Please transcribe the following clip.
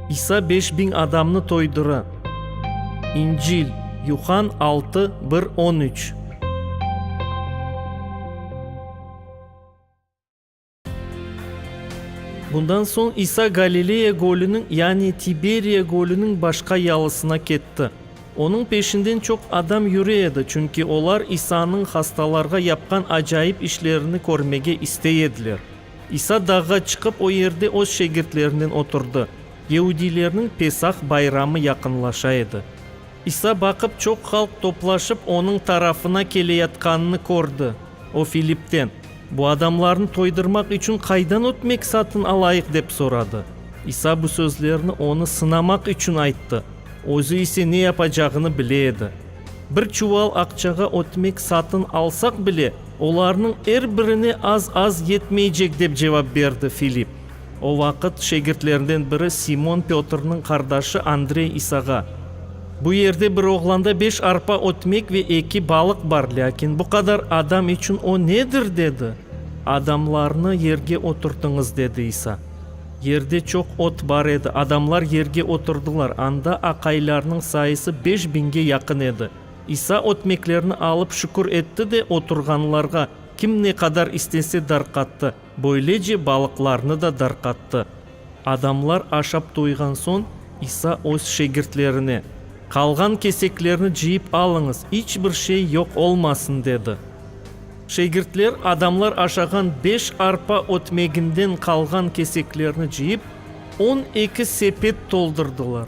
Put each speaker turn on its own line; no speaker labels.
İsa beş biñ adamnı toydura. İncil, Yuhann altı, bir, on üç. Bundan soñ İsa Galileya gölüniñ, yani Tiberiya gölüniñ başqa yalısına ketti. Onıñ peşinden çoq adam yüre edi, çünki olar İsanıñ hastalarğa yapqan acayip işlerini körmege istey ediler. İsa dağğa çıqıp, o yerde öz şegirtlerinen oturdı. Yehudiylerniñ Pesah bayramı yaqınlaşa edi. İsa baqıp, çoq halq toplaşıp, onıñ tarafına keleyatqanını kördi. O Filippten, Bu adamlarnı toydırmaq içün qaydan ötmek satın alayıq? dep soradı. İsa bu sözlerni onı sınamaq içün ayttı, özü ise ne yapacağını bile edi. Bir çuval aqçağa ötmek satın alsaq bile, olarnıñ er birine az-az yetmeycek, dep cevap berdi Filipp. O vaqıt şegirtlerinden biri Simon Pötrniñ qardaşı Andrey İsağa, Bu yerde bir oğlanda beş arpa ötmek ve eki balıq bar, lâkin bu qadar adam içün o nedir? dedi. Adamlarnı yerge oturtıñız, dedi İsa. Yerde çoq ot bar edi, adamlar yerge oturdılar. Anda aqaylarnıñ sayısı beş biñge yaqın edi. İsa ötmeklerni alıp şükür etti de, oturğanlarğa kim ne qadar istese darqattı. Böylece balıqlarnı da darqattı. Adamlar aşap toyğan soñ, İsa öz şegirtlerine, Qalğan keseklerni cıyıp alıñız, iç bir şey yoq olmasın, dedi. Şegirtler adamlar aşağan beş arpa ötmeginden qalğan keseklerni cıyıp, on eki sepet toldurdılar.